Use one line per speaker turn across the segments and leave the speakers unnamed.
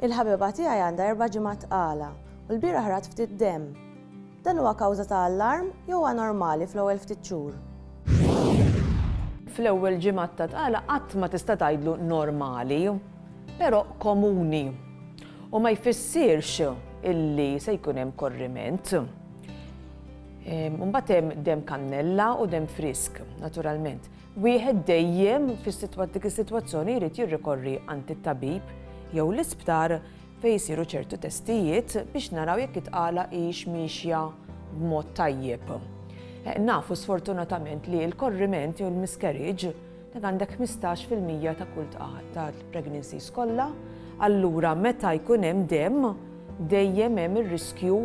Il-ħabiba tiegħi għandha erba' ġimgħat tqala u lbieraħ rat ftit demm. Dan huwa kawża ta' allarm jew huwa normali fl-ewwel ftit xhur?
Fl-ewwel ġimgħat ta' tqala qatt ma tista' tgħidlu normali, però komuni u ma jfissirx illi se jkun hemm korriment. Imbagħad hemm demm kannella u demm frisk, naturalment. Wieħed dejjem fis-dik is-sitwazzjoni jrid jirrikorri għand it-tabib jew l-isptar fejn isiru ċertu testijiet biex naraw jekk it-tqala hix miexja b'mod tajjeb. Eh, nafu sfortunatament li l-korriment jew l-miscarriage dan għandek 15% ta' kull ta' pregnancy kollha, allura meta jkun hemm dem dejjem hemm ir-riskju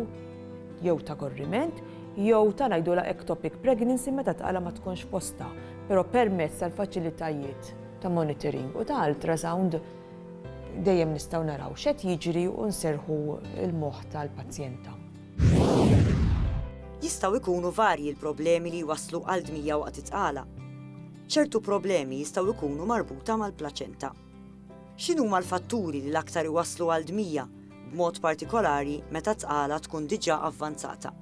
jew ta' korriment, jew ta' ngħidulha ectopic pregnancy meta t-tqala ma tkunx fostha, però permezz tal-faċilitajiet ta' monitoring u ta' ultrasound dejjem nistgħu naraw x'qed jiġri u nserrħu l-moħħ tal-pazjenta.
Jistgħu jkunu varji l-problemi li jwasslu għal dmija waqt it-tqala. Ċertu problemi jistgħu jkunu marbuta mal-plaċenta. X'inhuma l-fatturi li l-aktar iwasslu għal dmija, b'mod partikolari meta t-tqala tkun diġà avvanzata?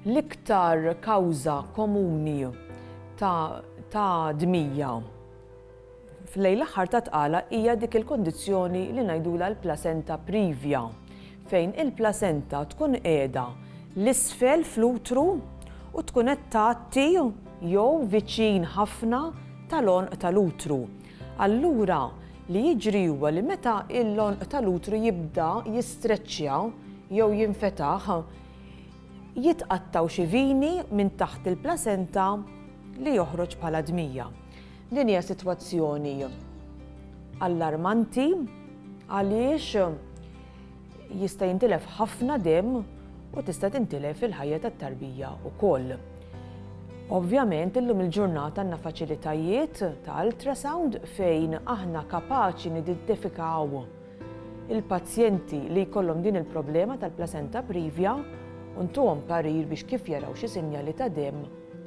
L-iktar kawża komuni ta' dmija lejn l-aħħar tat-tqala hija dik il-kundizzjoni li ngħidulha l-placenta previa. fejn il-plasenta tkun qiegħda 'l isfel fl-utru u tkun qed tgħatti jew viċin ħafna tal-għonq tal-utru. Allura, li jiġri huwa li meta l-għonq tal-utru jibda jistreċċja jew jinfetaħ, jitqattgħu xi vini minn taħt il-plasenta li joħroġ bħala dmija. Din hija sitwazzjoni allarmanti għaliex Jista' jintilef ħafna demm u tista' tintilef il-ħajja tat-tarbija wkoll. Ovvjament illum il-ġurnata għandna faċilitajiet ta' ultrasound fejn aħna kapaċi nidentifikaw il-pazjenti li jkollhom din il-problema tal-placenta previa u ntuhom parir biex kif jaraw xi sinjali ta' demm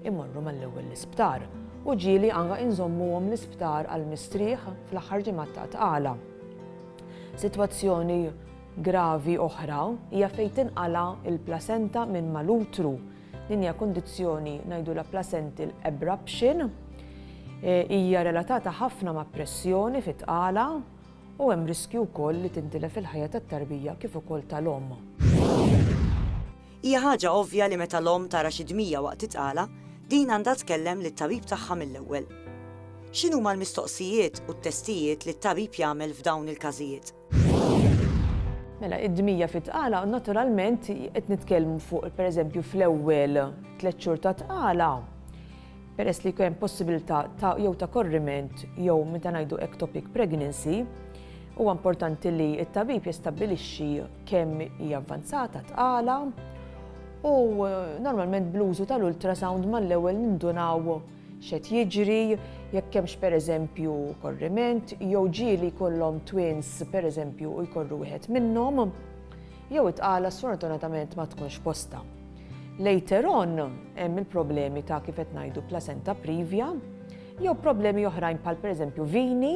imorru mal-ewwel l-isptar u ġieli anke inżommuhom l-isptar għal mistrieħ fl-aħħar ġimgħat ta' tqala. Sitwazzjoni gravi oħra hija fejn tinqala' l-plasenta minn mal-utru. Din hija kundizzjoni ngħidulha placental abruption. Hija relatata ħafna ma' pressjoni fit-tqala u hemm riskju wkoll li tintilef il-ħajja tat-tarbija kif ukoll tal-omm. Hija
ħaġa ovvja li meta l-omm tara xi dmija waqt it-tqala, din għandha tkellem lit-tabib tagħha mill-ewwel. X'inhuma l-mistoqsijiet u t-testijiet li t-tabib jagħmel f'dawn il-każijiet?
Mela, id-dmija fit-tqala, naturalment qed nitkellmu fuq, pereżempju, fl-ewwel tliet xhur tat-tqala, peress li jkun hemm possibilità ta' jew ta' korriment jew meta ngħidu ectopic pregnancy, huwa importanti li t-tabib jistabbilixxi kemm hija avvanzata, tqala, u normalment bl-użu tal-ultrasound mal-ewwel nindunaw x'qed jiġri, jekk hemmx pereżempju korriment, jew ġieli jkollhom twins pereżempju u jkorru wieħed minnhom. jew it-tqala sfortunatament ma tkunx postha. Later on hemm il-problemi ta' kif qed ngħidu placenta privia jew problemi oħrajn bħal pereżempju vini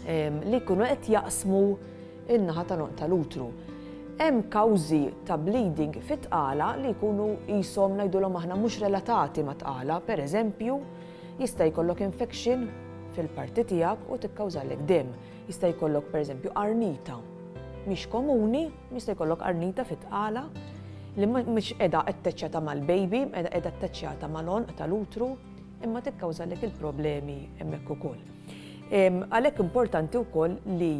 li jkunu qed jaqsmu in-naħa ta' noqta l-utru. Hemm kawżi ta' bleeding fit-tqala li jkunu jisom ngħidulhom aħna mhux relatati ma' tqala, per eżempju, jista' jkollok infection fil-parti tiegħek u tikkawżalek dem. Jista' jkollok pereżempju qarnita mhix komuni, jista' jkollok qarnita fit-tqala li mhix qiegħda attaċċjata mal-baby, qiegħda qiegħda attaċċjata mal-għonq tal-utru, imma tikkawżalek il-problemi hemmhekk ukoll. Għalhekk importanti wkoll li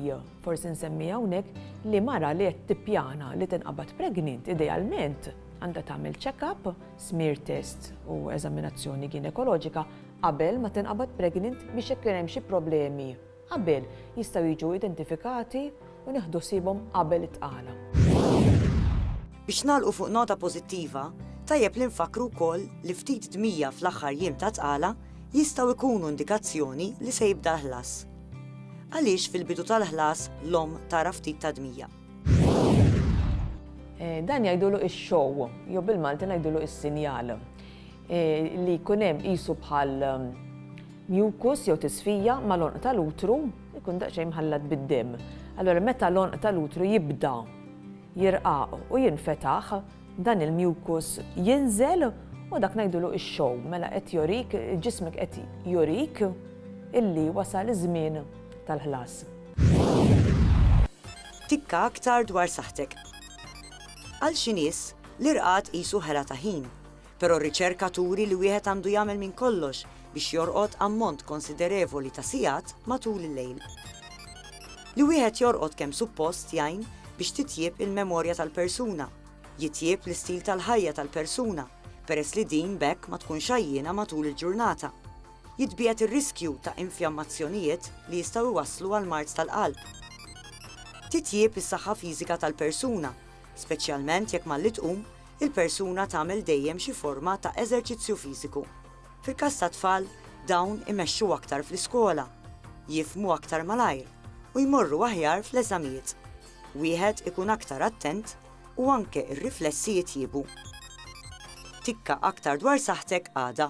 forsi nsemmi hawnhekk li mara li qed tippjana li tinqabad pregnant idealment għandha tagħmel check-up, smear test u eżaminazzjoni ginekoloġika qabel ma tinqabad pregnant biex jekk kien hemm xi problemi qabel jistgħu jiġu identifikati u nieħdu ħsiebhom qabel it-tqala.
Biex nagħlqu fuq nota pożittiva, tajjeb li nfakkru wkoll li ftit dmija fl-aħħar jiem ta' tqala jistgħu jkunu indikazzjoni li se jibda l-ħlas. Għaliex fil-bidu tal-ħlas l-omm tara ftit ta' dmija?
Eh, dan jgħidulu ix-show, jew bil-Malti ngħidulu is-sinjal eh, li jkun hemm qisu bħal Mucus jew tisfija mal-għonq tal-utru jkun daqsxejn mħallat bid-demm. Allura meta l-għonq tal-utru jibda jirqaq u jinfetaħ, dan il-mucus jinżel u dak ngħidulu x-show. Mela qed jorik, ġismek qed jurik illi wasal iż-żmien tal-ħlas.
Tikka aktar dwar saħħtek. Għal xi nies, l-irqad qisu ħela ta' ħin. Però r-riċerka turi li wieħed għandu jagħmel minn kollox biex jorqod ammont konsiderevoli ta' sigħat matul il-lejl. Li wieħed jorqod kemm suppost jgħin biex titjieb il-memorja tal-persuna, jitjieb l-istil tal-ħajja tal-persuna peress li din b'hekk ma tkunx għajjiena matul il-ġurnata, jitbiegħed ir-riskju ta' infjammazzjonijiet li jistgħu jwasslu għal mard tal-qalb. Titjieb is-saħħa fiżika tal-persuna, speċjalment jekk malli tqum il-persuna tagħmel dejjem xi forma ta' eżerċizzju fiżiku. Fil-każ tat-tfal, dawn imexxu aktar fl-iskola, jifhmu aktar malajr u jmorru aħjar fl-eżamijiet. Wieħed ikun aktar attent u anke r-riflessi jitjiebu. Tikka aktar dwar saħħtek għada.